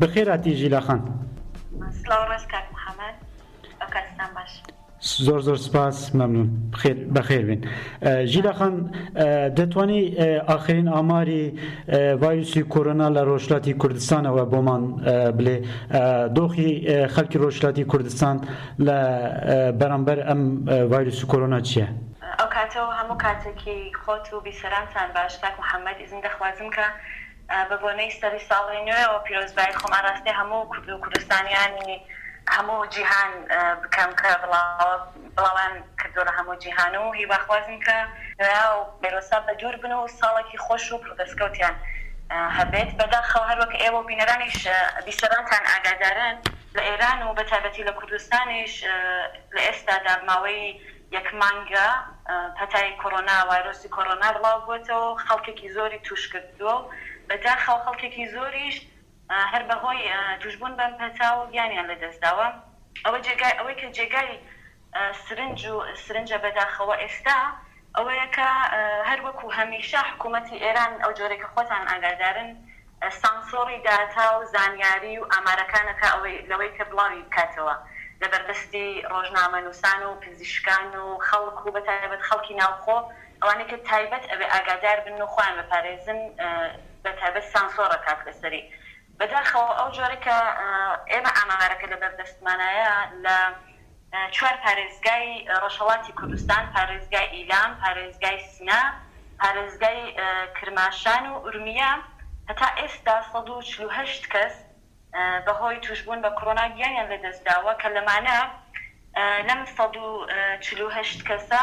بەخێر هاتی ژیلا خان. سڵاو ڕێز کاک محمد ئەو کاتتان باش. زۆر زۆر سپاس مەمنون بەخێربێن ژیلاخان دەتوانی ئاخرین ئاماری ڤایرسی کۆرۆنا لە ڕۆژلاتی کوردستانەوە بۆمان بلێ دۆخی خەلکی ڕۆژلاتی کوردستان لە بەرامبەر ئەم ڤایرسی کۆرۆنا چییە؟ ئەو کاتەوە هەموو کاتێکی خۆت و بیسەرانتان باش کاک محمد دەخوازم کە بە بۆنەی سەری ساڵی نوێوە پیرۆزبایی خۆم ئاراستەی هەموو کورد و کوردستانیانی هەموو جیهان بکەم کە بڵاوەیان کردووە لە هەموو جیهان و هیواخوازم کە نوێا و ڤایرۆسە بە دوور بن و ساڵێکی خۆش و پڕ دەستکەوتیان هەبێت. بەداخەوە هەر وەک ئێوە و بینەرانیش بیسەرانتان ئاگادارن لە ئێران و بە تایبەتی لە کوردستانیش لە ئێستادا ماوەی یەک مانگە پەتای کۆرۆنا، وایرۆسی کۆرۆنا بڵاو بووەتەوە و خەڵکێکی زۆری تووش کردووە و بە داخەوە خەڵکێکی زۆریش هەر بە هۆی تووش بوون بەم پەتاوە گیانیان لە دەست داوە. ئەوە جێگای ئەوەی کە جێگای سرنج و سرنجە بە داخەوە ئێستا ئەوەیە کە هەر وەکوو هەمیشە حکوومەتی ئێران ئەو جۆرەی کە خۆتان ئاگادارن سانسۆڕی داتا و زانیاری و ئامارەکان ئەکا ئەوەی لەوەی کە بڵاوی بکاتەوە لە بەردەستی ڕۆژنامەنووسان و پزیشکان و خەڵک و بەتایبەت خەڵکی ناوخۆ ئەوانەی کە تایبەت ئەبێ ئاگادار بن و خۆیان بپارێزن بەتایبەت سانسۆڕ ئەکات لەسەری بەداخەوە ئەو جۆرەی کە ئێمە ئامارەکە لەبەردەستمانایە لە چوار پارێزگای ڕۆژهەڵاتی کوردستان، پارێزگای ئیلام، پارێزگای سنە، پارێزگای کرماشان و ئورمیە هەتا ئێستا سەد و چل و هەشت کەس بەهۆی تووشبوون بە کۆرۆنا گیانیان لەدەستداوە کە لەمانە لەم سەد و چل و هەشت کەسە،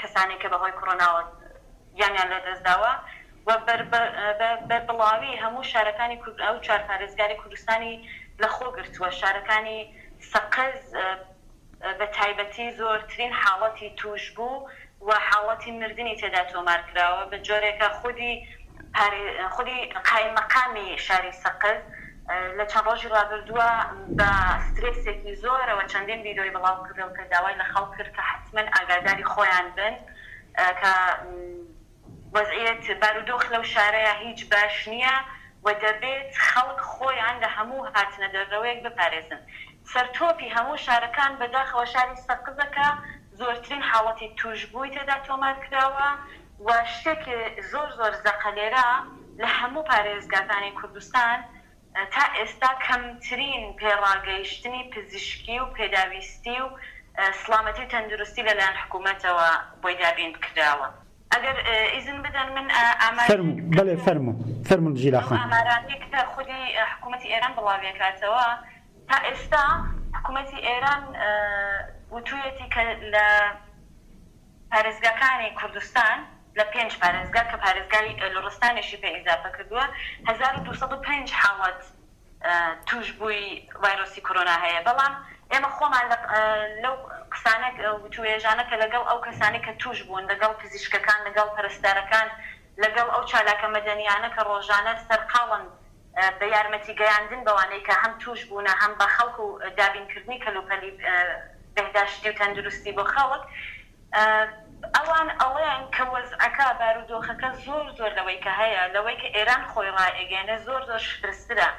کەسانێک کە بەهۆی کۆرۆناوە گیانیان لەدەستداوە و بە بەربڵاوی هەموو شارەکانی کورد ئەو چوار پارێزگاری کوردستانی لەخۆگرتووە، شارەکانی سەقز بەتایبەتی زۆرترین حاڵەتی تووشبوو و حاڵەتی مردنی تێدا تۆمارکراوە، بەجۆرێکە خودی خودی قائیممەقامی شاری سەقز، لە چەند ڕۆژی ڕابردووە بە سترێسێکی زۆرەوە چەندین ڤیدیۆی بڵاوکردەوە کە داوای لە خەڵک کرد کە حەتمەن ئاگاداری خۆیان بن کە وەزعیەت بارودۆخ لەو شارەیا هیچ باش نییە و دەبێت خەڵک خۆیان لە هەموو هاتنە دەرەوەیەک بپارێزن سەرتۆپی هەموو شارەکان بەداخەوە شاری سەقزە کە زۆرترین حاڵەتی تووشبووی تێدا تۆمار کراوە و شتێک زۆر زۆر زەقە لێرە لە هەموو پارێزگاکانی کوردستان تا ئێستا کەمترین پێڕاگەیشتنی پزیشکی و پێداویستی و سڵامەتی و تەندروستی لە لایەن حکوومەتەوە بۆی دابین کراوە ئەگەر ئیزن بدەن من ئامارێک فەرموو بەڵێ فەرموو فەرموون جیلا خان. ئەو ئامارانەی کە خودی حکوومەتی ئێران بڵاویەکاتەوە. تا ئێستا حکومەتی ئێران وتوویەتی کە لە پارێزگاکانی کوردستان، لە پێنج پارێزگا کە پارێزگای لوڕستانیشی پێ ئیزافە کردووە، هەزار و دوو سەد و پێنج حاڵەت تووشبووی ڤایرۆسی کۆرۆنا هەیە، بەڵام ئێمە خۆمان لەو قسانە وتووێژانە کە لەگەڵ ئەو کەسانەی کە تووشبوون، لەگەڵ پزیشکەکان، لەگەڵ پەرستارەکان، لەگەڵ ئەو چالاکە مەدەنییانە کە ڕۆژانە سەرقاڵن بە یارمەتی گەیاندن بەوانەی کە هەم تووشبوونە هەم بە خەڵک و دابین کردنی کەلوپەلی بهداشتی و تەندروستی بۆ خەڵک ئەوان ئەڵێن کە وەزعەکە بارودۆخەکە زۆر زۆر لەوەی کە هەیە لەوەی کە ئێران خۆی ڕایئەگەیەنێ زۆر زۆر شپرزترە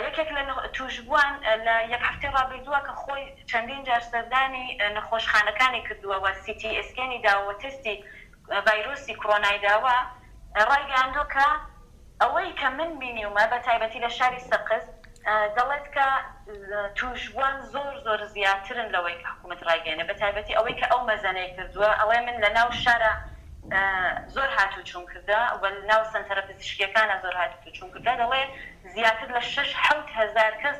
یەکێک لە تووشبووان لە یەک هەفتەی ڕابردووە کە خۆی چەندین جار سەردانی نەخۆشخانەکانی کردووە و سی تی ئێسکێنی داوە و تێستی ڤایرۆسی کڕۆنای داوە ڕایگەیاندووە کە ئەوەی کە من بینیومە بە تایبەتی لە شاری سەقز دەڵێت کە تووشبووان زۆر زۆر زیاترن لەوەی کە حکوومەت ڕایگەیەنێ بە تایبەتی ئەوەی کە ئەو مەزەنەی کردووە ئەڵێ من لە ناو شارا زۆر هاتووچووم کردە و ناو سەنتەرە پزیشکییەکانا زۆر هاتووچووم کردە دەڵێ زیاتر لە شەش حەوت هەزار کەس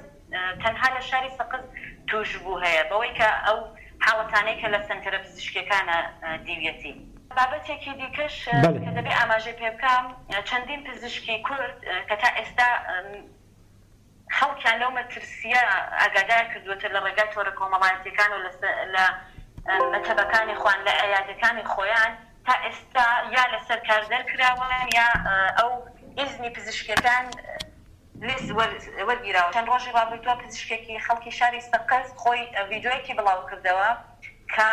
تەنها لە شاری سەقز تووشبوو هەیە بەوەی کە ئەو حاڵەتانەی کە لە سەنتەرە پزیشکییەکانە دیویەتی. بابەتێکی دیکەش کە دەبێ ئاماژەی پێ بکەم، چەندین پزیشکی کورد کە تا ئێستا خەڵکیان لەو مەترسییە ئاگادار کردووەتە لە ڕێگای تۆڕە کۆمەڵایەتییەکان و لە مەتەبەکانی خۆیان، لە عیادەکانی خۆیان تا ئێستا یا لەسەر کار دەرکراون یا ئەو ئیزنی پزیشکییەکان، لیز وەرگیراو چەند ڕۆژی ڕابردووە پزیشکێکی خەڵکی شاری سەقز خۆی ڤیدیۆیەکی بڵاوکردەوە کە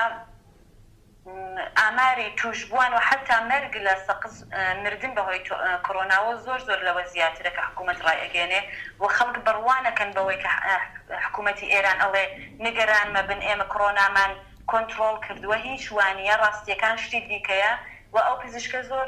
ئاماری تووشبووان و حەتا مەرگ لە سەقز مردن بەهۆی کۆرۆناوە زۆر زۆر لەوە زیاترە کە حکوومەت ڕایئەگەیەنێ و خەڵک بڕوانەکەن بەوەی کە حکوومەتی ئێران ئەڵێ نگەران مەبن ئێمە کۆرۆنامان کۆنتڕۆڵ کردووە هیچ وانییە ڕاستییەکان شتی دیکەیە و ئەو پزیشکە زۆر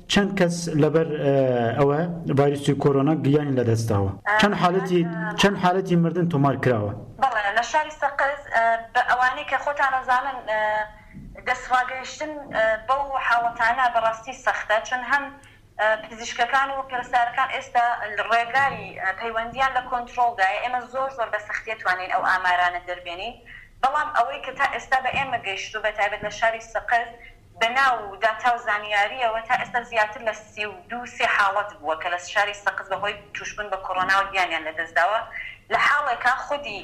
چەند کەس لەبەر ئەوە ڤایرسی کۆرۆنا گیانی لەدەستداوە؟ چەند حالەتی چەند حالەتی مردن تۆمار کراوە؟ بەڵێ لە شاری سەقز بە ئەوانەی کە خۆتان ئەزانن دەستڕاگەیشتن بەو حاڵەتانە بەڕاستی سەختە چون هەم پزیشکەکان و پەرستارەکان ئێستا ڕێگای پەیوەندیان لە کۆنترۆڵدایە ئێمە زۆر زۆر بە سەختیە توانین ئەو ئامارانە دەربێنین بەڵام ئەوەی کە تا ئێستا بە ئێمە گەیشتوو بە تایبەت لە شاری سەقز بە ناو و داتا و زانیارییەوە تا ئێستا زیاتر لە سی و دوو سێ حاڵەت بووە کە لە شاری سەقز بە هۆی تووشبوون بە کۆرۆناوە گیانیان لە دەست داوە لە حاڵێکا خودی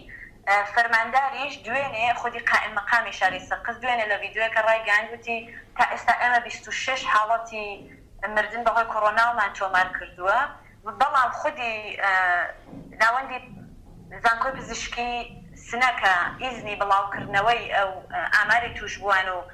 فەرمانداریش دوێنێ خودی قائیم مقامی شاری سەقز دوێنێ لە ڤیدیۆیەکە ڕایگەیاند وتی تا ئێستا ئێمە بیست و شەش حاڵەتی مردن بە هۆی کۆرۆناومان تۆمار کردووە بەڵام خودی ناوەندی زانکۆی پزیشکی سنە کە ئیزنی بڵاو کردنەوەی ئەو ئاماری تووشبووان و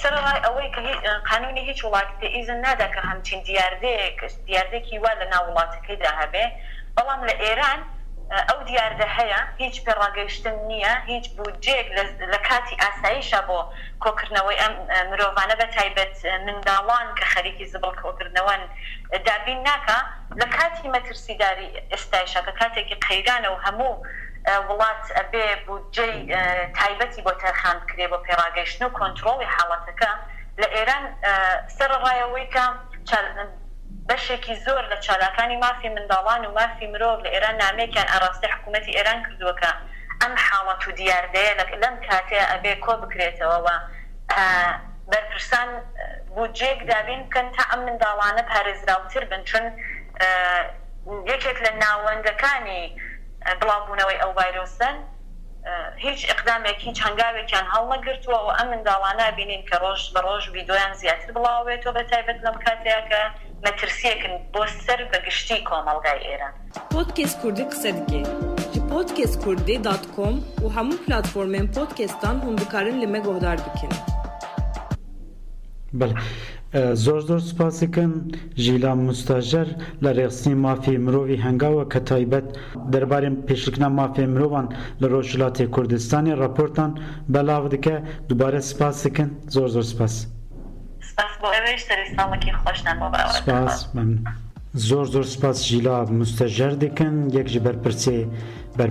سەرەڕای ئەوەی کە قانوونی هیچ وڵاتێ ئیزن نادا کە هەمچین دیاردەیەک، دیاردەیەکی وا لەناو وڵاتەکەیدا هەبێ، بەڵام لە ئێران ئەو دیاردە هەیە، هیچ پێڕاگەیشتن نییە، هیچ بودجەیەک لە لە کاتی ئاساییشا بۆ کۆکردنەوەی ئەم مرۆڤانە بە تایبەت منداڵان کە خەریکی زبڵ کۆکردنەوەن دابین ناکا، لە کاتی مەترسیداری ئێستایشا کە کاتێکی قەیرانە و هەموو وڵات ئەبێ بودجەی تایبەتی بۆ تەرخان بکرێ بۆ پێڕاگەیشتن و کۆنتڕۆڵی حاڵەتەکە لە ئێران سەرەڕای ئەوەی کە بەشێکی زۆر لە چالاکانی مافی منداڵان و مافی مرۆڤ لە ئێران نامەیەکیان ئاراستەی حکوومەتی ئێران کردووە کە ئەم حاڵەت و دیاردەیە لە لەم کاتەیە ئەبێ کۆ بکرێتەوە و بەرپرسان بودجەیەک دابین بکەن تا ئەم منداڵانە پارێزراوتر بن چون یەکێک لە ناوەندەکانی بڵاوبوونەوەی ئەو ڤایرۆسەن، هیچ ئیقدامێک هیچ هەنگاوێکیان هەڵنەگرتووە و ئەم منداڵانە ئەبینین کە ڕۆژ بە ڕۆژ ڤیدۆیان زیاتر بڵاوەبێتەوە بە تایبەت لەم کاتەیا کە مەترسییەکن بۆ سەر بە گشتی کۆمەڵگای ئێران. پۆدکێست کوردی قسە دکێ ژ پۆدکێست کوردی دات کۆم و هەموو پلاتفۆرمێن پۆدکێستان هوم دکارن لمە گۆهدار بکێن. بەڵێ زۆر زۆر سوپاسیکن ژیلان موستاژەر لە رێخستنی مافی مرۆڤی هەنگاوە کە تایبەت دەربارەی پێشلکنا مافێ مرۆڤان لە رۆژهلاتی کوردستانی راپۆرتان بەلاغ دکە دوبارە سوپاسیکن زۆر زۆر سوپاس. سپاس بۆ ئێوەیش سەری ساڵێکی خۆشتان بۆ بەڕێوەدەبەم. زۆر زۆر سوپاس ژیلا موستەژەر دکن یەک ژی بەرپرسێ بەر.